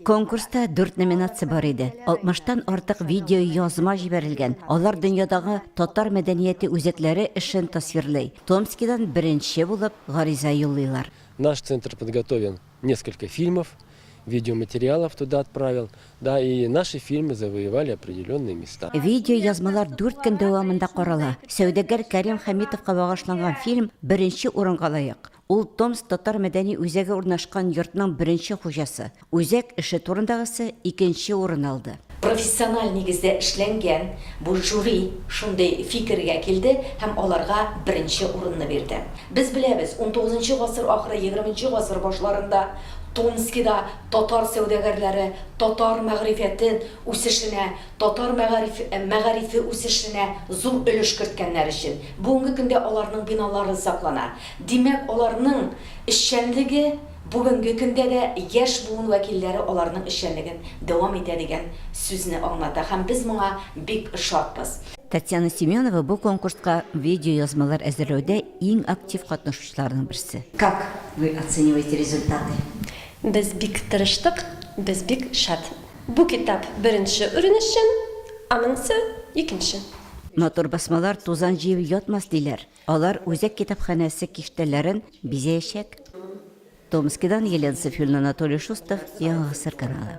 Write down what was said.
Конкурста дүрт номинация бар иде. Алтмыштан артык видеоязма җибәрелгән, алар дөньядагы татар мәдәнияте үзәкләре эшен тасвирлый. Томскидан беренче булып гариза юллыйлар. Наш центр подготовил несколько фильмов, видеоматериалов туда отправил, да и наши фильмы завоевали определенные места. Видеоязмалар дүрт көн дәвамында карала. Сәүдәгәр Кәрим Хәмитовка багышланган фильм беренче урынга лаек. Ул Томск татар мәдәни үзәге урнашкан йортның беренче хуҗасы. Үзәк эше турындагысы икенче урын алды. Профессиональ нигездә эшләнгән бу жюри шундый фикергә килде һәм аларга беренче урынны бирде. Без беләбез, унтугызынчы гасыр ахыры, егерменче гасыр башларында Томскида татар сәүдәгәрләре татар мәгърифәте үсешенә, татар мәгариф мәгарифе үсешенә зур өлеш керткәннәр өчен бүгенге көндә аларның биналары саклана. Димәк, аларның эшчәнлеге бүгенге көндә дә яшь буын вәкилләре аларның эшчәнлеген дәвам итә дигән сүзне аңлата һәм без моңа бик шатбыз. Татьяна Семенова бу конкурска видеоязмалар әзерләүдә иң актив катнашучыларның берсе. Как вы оцениваете результаты? Без бик тырыштык, без бик шат. Бу китап беренче урын өчен, аныңсы, икенче. Матур басмалар тузан җыеп ятмас, диләр. Алар үзәк китапханәсе киштәләрен бизәячәк. Томскидан Елена Сафюльна Анатолий Шустов, Яңа гасыр каналы.